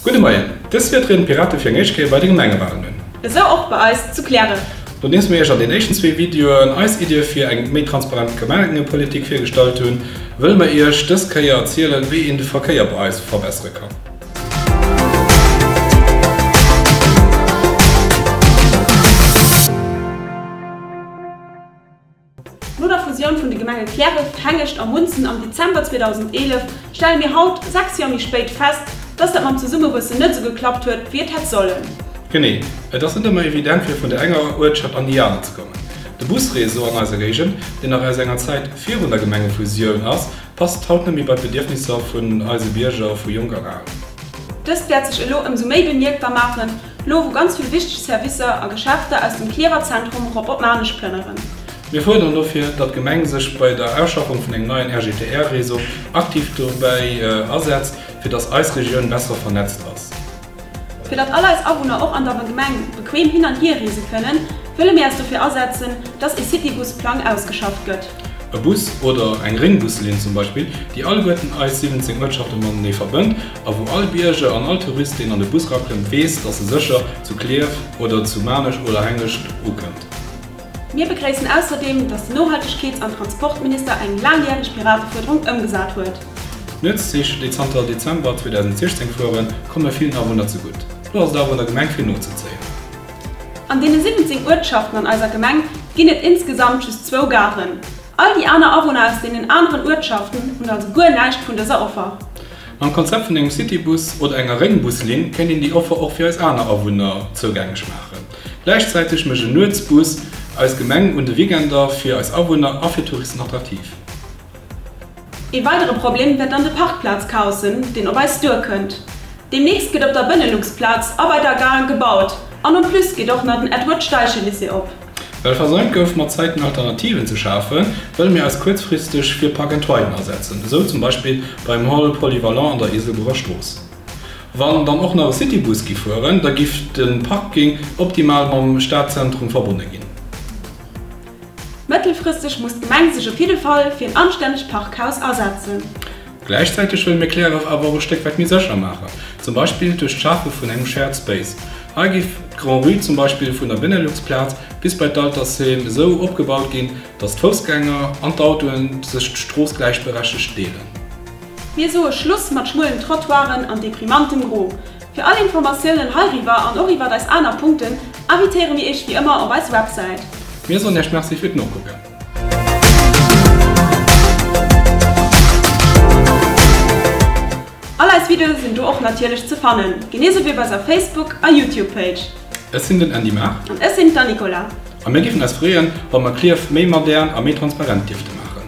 Gudde Moien. Dës Wieder trieden d'Pirate fir eng éischt Kéier bei de Gemengewalen un. Esou och bei eis zu Plären. Nodeems mir Iech an den éischten zwee Videoen eis Iddie fir eng méi transparent Gemengepolitik virgestallt hunn, wëlle mer Iech dës Kéier erzielen, wéi een de Verkéier bei eis verbessere kann. No der Fusioun vun de Gemenge Käreft, Hengescht a Munzen am Dezember 2011 stelle mir haut, sechs Joer méi spéit, fest, dass dat mam Zesummewuessen net esou geklappt huet, wéi et hätt sollen. Genee, et ass net ëmmer evident, fir vun der enger Uertschaft an déi aner ze kommen. De Busreseau an eiser Géigend, deen nach aus enger Zäit virun der Gemengefusioun ass, passt haut net méi bei d'Bedierfnisser vun eise Bierger vu jonk an al. Dëst wäert sech elo ëmsou méi bemierkbar maachen, Lo wou ganz vill wichteg Servicer a Geschäfter aus dem Cliärrwer Zentrum erop op Maarnech plënneren. Mir fuerderen dofir, datt d'Gemeng sech bei der Auschaffung vun engem neien RGTR-Réseau aktiv dobäi asetzt, fir datt eis Regioun besser vernetzt ass. Fir datt all eis Awunner och an der Gemeng bequem hin an hier reese kënnen, wëlle mir eis dofir asetzen, datt ee Citybus-Plang ausgeschafft gëtt. E Bus oder eng Réngbus-Linn zum Beispill, déi alleguerten eis 17 Uertschafte matenee verbënnt A wou all Bierger an all Tourist, deen an de Bus rakënnt, weess, dass e sécher zu Klierf oder zu Maarnech oder Hengescht ukënnt. Mir begréissen ausserdeem, dass de Nohaltegkeets an Transportminister eng laangjäreg Piratefuerderung ëmgesat huet. D'Nuetszich, déi zanter Dezember 2016 fueren, komme villen Awunner zegutt. Elo ass et awer un der Gemeng, fir nozezéien. An deene 17 Uertschaften an eiser Gemeng ginn et insgesamt just zwou Garen. All déi aner Awunner aus deenen aneren Uertschaften hunn also guer näischt vun dëser Offer. Mam Konzept vun engem Citybus oder enger Réngbus-Linn kéint een déi Offer och fir eis aner Awunner zougänglech maachen. Gläichzäiteg mécht en Nuetsbus eis Gemeng un de Weekender fir eis Awunner a fir Touristen attraktiv. Ee weidere Problem wäert dann de Parkplaz-Chaos sinn, deen op eis duerkënnt. Deemnächst gëtt op der Benelux-Plaz a bei der Gare gebaut an en plus geet och nach den Edward-Steichen-Lycée op. Well versäumt gouf mat Zäiten Alternativen ze schafen, wëlle mir eis kuerzfristeg fir Park and Riden asetzen, esou zum Beispill beim Hall Polyvalent an der Iselburger Strooss. Wann dann och nach e Citybus giff fueren, da giff de Parking optimal mam Stadzentrum verbonne ginn. Mëttelfristeg muss d'Gemeng sech op jidde Fall fir en anstännegt Parkhaus asetzen. Gläichzäiteg wëlle mir Cleref awer och e Stéck wäit méi sécher maachen, zum Beispill duerch d'Schafe vun engem Shared Space. Hei géif d'Grand-Rue zum Beispill vun der Benelux-Plaz bis bei d'Altersheem esou opgebaut ginn, datt d'Foussgänger an d'Autoe sech d'Strooss gläichberechtigt deelen. Mir soe Schluss mat schmuelen Trottoiren an deprimantem Gro. Fir all Informatiounen heiriwwer an och iwwert eis aner Punkten invitéiere mir Iech wéi ëmmer op eis Websäit. Mir soen Iech Merci fir d'Nokucken. All eis Videoe sinn do och natierlech ze fannen, genee sou wéi op eiser Facebook a Youtube Page. Ech sinn den Andy Mahr. An ech sinn d'Anne-Nicola. A mir géifen eis freeën, wa mer Clierf méi modern a méi transparent dierfte maachen.